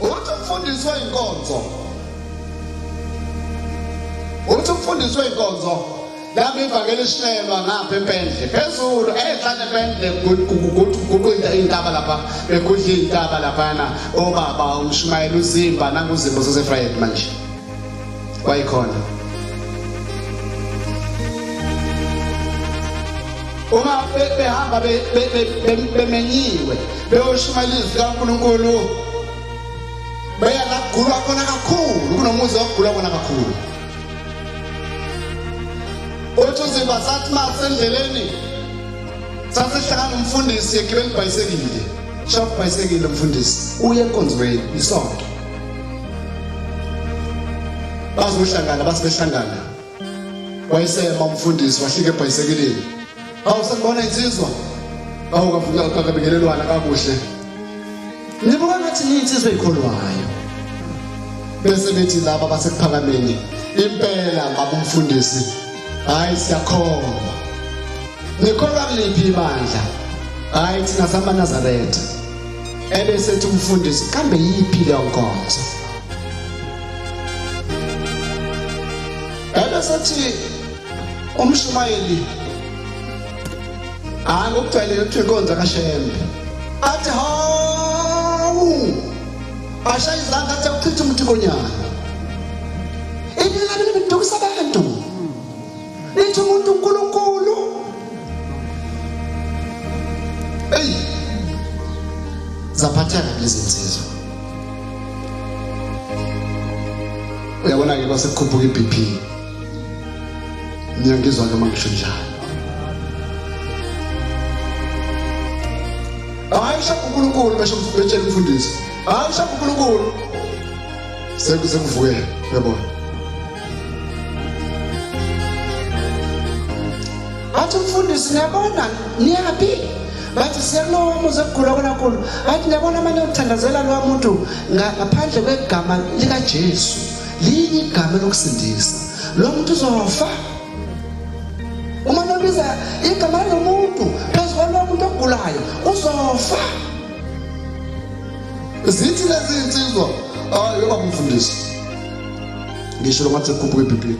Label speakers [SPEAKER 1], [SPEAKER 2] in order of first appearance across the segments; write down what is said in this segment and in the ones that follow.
[SPEAKER 1] uthi ufundiswe inkonzo uthi ufundiswe inkonzo yami ivakele ishelwa ngapha empendle phezulu ehlane empendle kuqinda intaba lapha bekudla intaba laphana obaba umshumayela uzimba nanguzimba sasefrayed manje kwayikhona uma behamba bemenyiwe beyoshumayela izwi likaNkulunkulu beya la kugulwa khona kakhulu kunomuzi okugulwa khona kakhulu othi uziba sathi ma sendleleni sasihlangana umfundisi egibela ibhayisekile shopha ibhayisekile umfundisi uye enkonzweni isonto bazohlangana bathi behlangana wayesema umfundisi wahlika ebhayisekilini awu sakubona insizwa awu kavuka kakabingelelwana kakuhle nibuka ngathi niyinsizwa eyikholwayo bese bethi laba basekuphakameni impela baba umfundisi hayi siyakhona nikholwa kuliphi ibandla hayi thina samanazarete ebese ethi umfundisi kambe yiphi leyo nkonzo ebese ethi umshumayeli hayi ngokucela ukuthi inkonzo kashembe athi hawu ashaya izandla athi akuchitha umthikonyana Lithi umuntu uNkulunkulu. Hey. Zaphathana lezi nsizwa. Uyabona ke kwase kukhuphuka iBP. Ngiyangizwa noma ngisho njalo. Hayi shaka uNkulunkulu besho betshela umfundisi. Hayi shaka uNkulunkulu. Sekuze kuvuke uyabona. bathi umfundisi niyabona niyaphi bathi siyakulowa umuzi ekugula konakhulu bathi niyabona amane okuthandazela lowa muntu ngaphandle kwegama likajesu linye igama lokusindisa lo muntu uzofa uma nobiza igama lalo muntu phezu kwalowo muntu ogulayo uzofa zithi lezi nsizwa hayi yoba mfundisi ngisho ngathi sekukhuphuka ebhibhini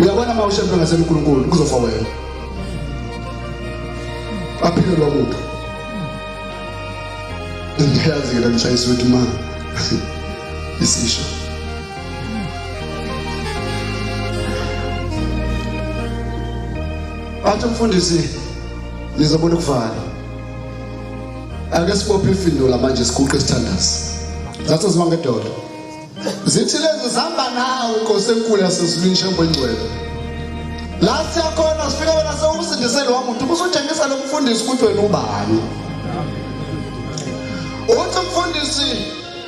[SPEAKER 1] uyabona uma ushempe ngasenkulunkulu kuzofa wena aphile lokuphi ngiyazi-ke lanishayisa ukuthi ma isisho athi umfundisi nizobona ukuvala ake sibophe ifindula manje siguqe isithandazi zathi ziwa ngedolo zithi lezi zihamba nawe inkosi enkulu yasezulwini shembo engcwele la siyakhona sifike wena sewumsindise lowa muntu ubusutshengisa lo mfundisi ukuthi wena ubani uthi mfundisi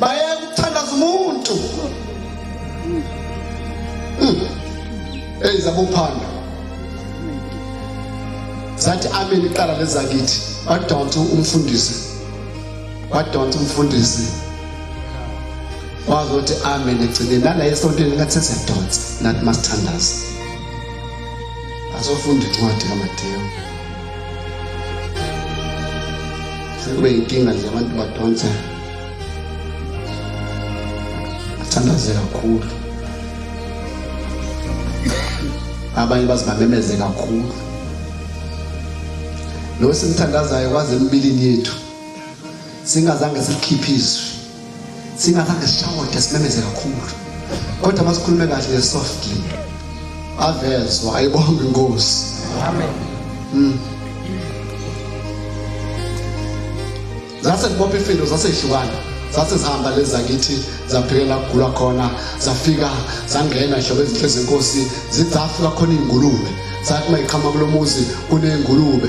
[SPEAKER 1] bayeka ukuthandaza umuntu hmm. eyi zabophando zathi amen iqala lezakithi badonsa umfundisi badonsa umfundisi wazothi amen egcine nala esontweni ngathi sesiyadonsa nathi masithandaza asofunda incwadi kamadewu sekube yinkinga nje abantu badonsa athandaze kakhulu abanye bazibamemeze kakhulu lo simthandazayo kwaze embilini yethu singazange sikhiphe izwi Thina kade sishawota simemeze kakhulu. Kodwa masikhulume kahle le soft deal. Avezwa ayibonge inkosi. Amen. Mm. Zase kubopha ifindo zase ihlukana. Zase zihamba lezi zakithi zaphikela kugula khona zafika zangena ihlobo ezinhle zenkosi zizafika khona ingulube. Sathi mayiqhama kulomuzi kunengulube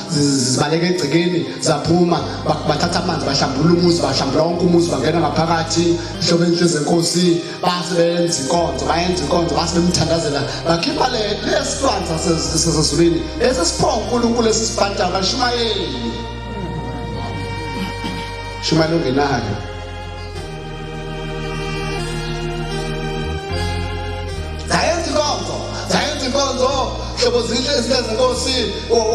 [SPEAKER 1] zibaleka egcekeni zaphuma bathatha amanzi bahlambulula umuzi bahlambula wonke umuzi bangena ngaphakathi ihlobo enhle zenkosi base benza inkonzo bayenza inkonzo base bemthandazela bakhipha lesilwanza sezulwini esesiphowa unkulunkulu esisibantayo bashumayeli shumayeli ongenayo zayenza inkonzo zayenza inkonzo hlobo zinhle izinto zenkosi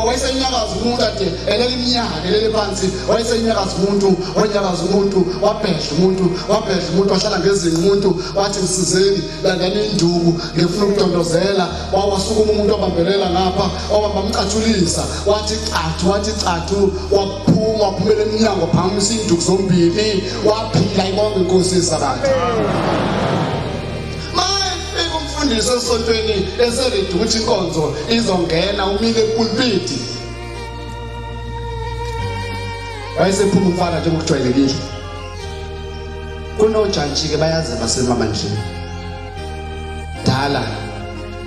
[SPEAKER 1] wayesenyakaza umuntu ade elele iminyaka elele phansi wayesenyakaza umuntu wanyakaza umuntu wabhedla umuntu wabhedla umuntu wahlala ngezinqa umuntu wathi msizeni landani induku ngifuna ukudondozela wawasukuma umuntu wabambelela ngapha wabamba mcatshulisa wathi cathu wathi cathu waphuma waphumela emnyango phamisa iinduku zombili waphila ibonga inkosi yesabatha umfundisi esontweni eseredi ukuthi inkonzo izongena umile epulpiti wayesephuma umfana njengokujwayelekile kunojantshi-ke bayazi basemamandleni Dala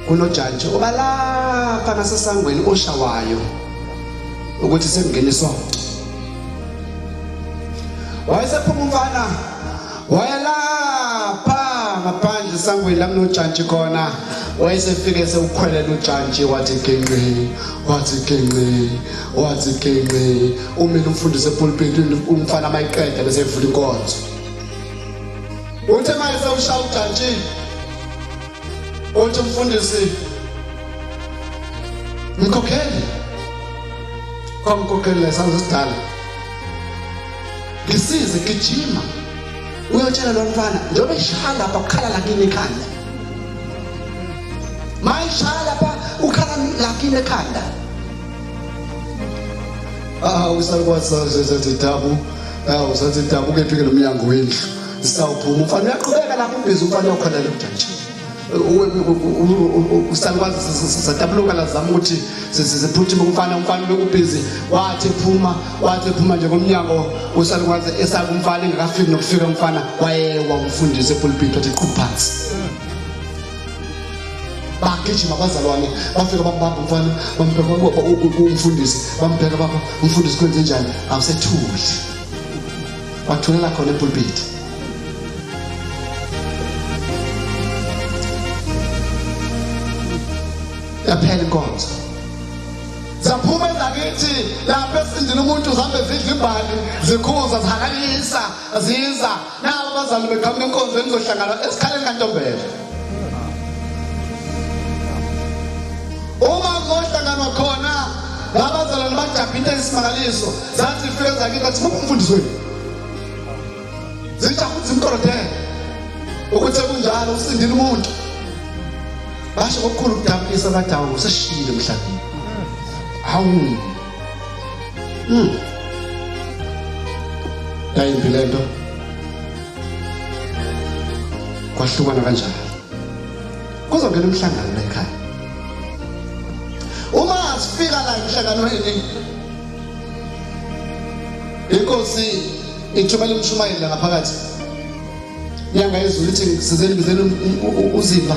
[SPEAKER 1] kunojantshi obalapha nasesangweni oshawayo ukuthi sekungena isonto. Wayesephuma umfana wayelapha ngaphandle esangweni la kunojantshi khona wayesefike sewukhwelela ujantshi wathi genqi wathi genqi wathi genqi umile umfundisi epulpiti umfana mayiqeda bese evula inkonzo Uthi imali sewushaya ujantshini. Uthi umfundisi mkhokheli kwamkhokheli lesanzo sidala ngisize gijima uyotshela lo mfana njengoba ishaya lapha kukhala lakini ekhanda mayishaya lapha ukhala lakini ekhanda ah usalukwasazezedabu ah usazedabu kephi ke lo mnyango wendlu zisawuphuma umfana uyaqhubeka lapho ubhizi umfana ukhona lomjantshini usalukwazi satabuluka lazama ukuthi siphuthume umfana umfana bekubhizi wathi phuma wathi phuma nje ngomnyango usalukwazi esaka umfana engakafiki nokufika umfana wayewa umfundisi epulpiti wathi qhu phansi bagijima abazalwane bafika bambamba umfana bambheka umfundisi bambheka baba umfundisi kwenze njani awusethuki wathulela khona epulpiti yaphela inkonzo zaphuma ezakithi lapho esindile umuntu zihambe zidla ibhali zikhuza zihalalisa ziza Na abazali beqhamuka enkonzweni zohlangana esikhaleni kaNtombela. Uma kohlanganwa khona abazalwane bajabha into eyisimangaliso zathi ifike zakithi athi muphi umfundisi wenu. Zitha futhi imkorodela ukuthi kunjalo usindile umuntu. Basho kokukhulu kudabukisa abadawu seshiyile emhlabeni. Hawu Mm. Yayimbi le nto. Kwahlukana kanjani? Kuzongena umhlangano la ekhaya. Uma asifika la emhlanganweni inkosi ithumela umshumayeli ngaphakathi Nyanga yezulu ithi sizeni bizeni uzimba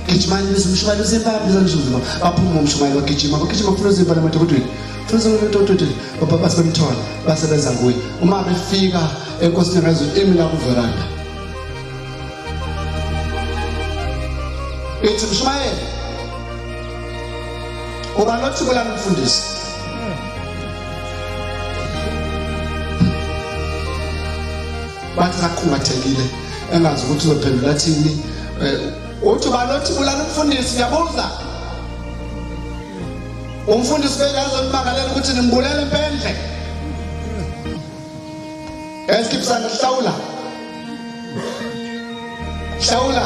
[SPEAKER 1] gijimani biza umshumayeli uzimba biza umshumayeli baphuma umshumayeli bagijima bagijima funa uzimba lamadokotweni funa uzimba lamadokotweni baba base bemthola basebenza kuye uma befika enkosini ngezulu imi la kuveranda ithi mshumayeli uba lothi kula mfundisi bathi saqhungathekile engazi ukuthi uzophendula thini eh, uthi balothi bulala umfundisi ngiyabuza umfundisi bekazonibakalela ukuthi nimbulele impendle esikipsana hlawula hlawula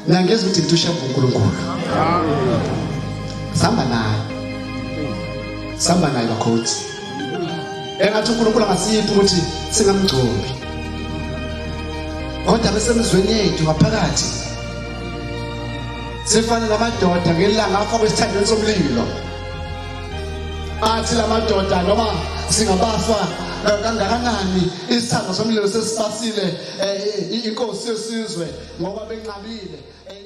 [SPEAKER 1] nangeza ukuthi ngithushe uNkulunkulu samba naye samba naye bakhothi engathi unkulunkulu angasiphi ukuthi singamgcobi kodwa besemizweni yethu ngaphakathi sifane namadoda ngelanga afakwe esithandweni somlilo athi la madoda noma singabafa eh, kangakanani isithando somlilo sesibasile eh, inkosi yesizwe ngoba benqabile eh,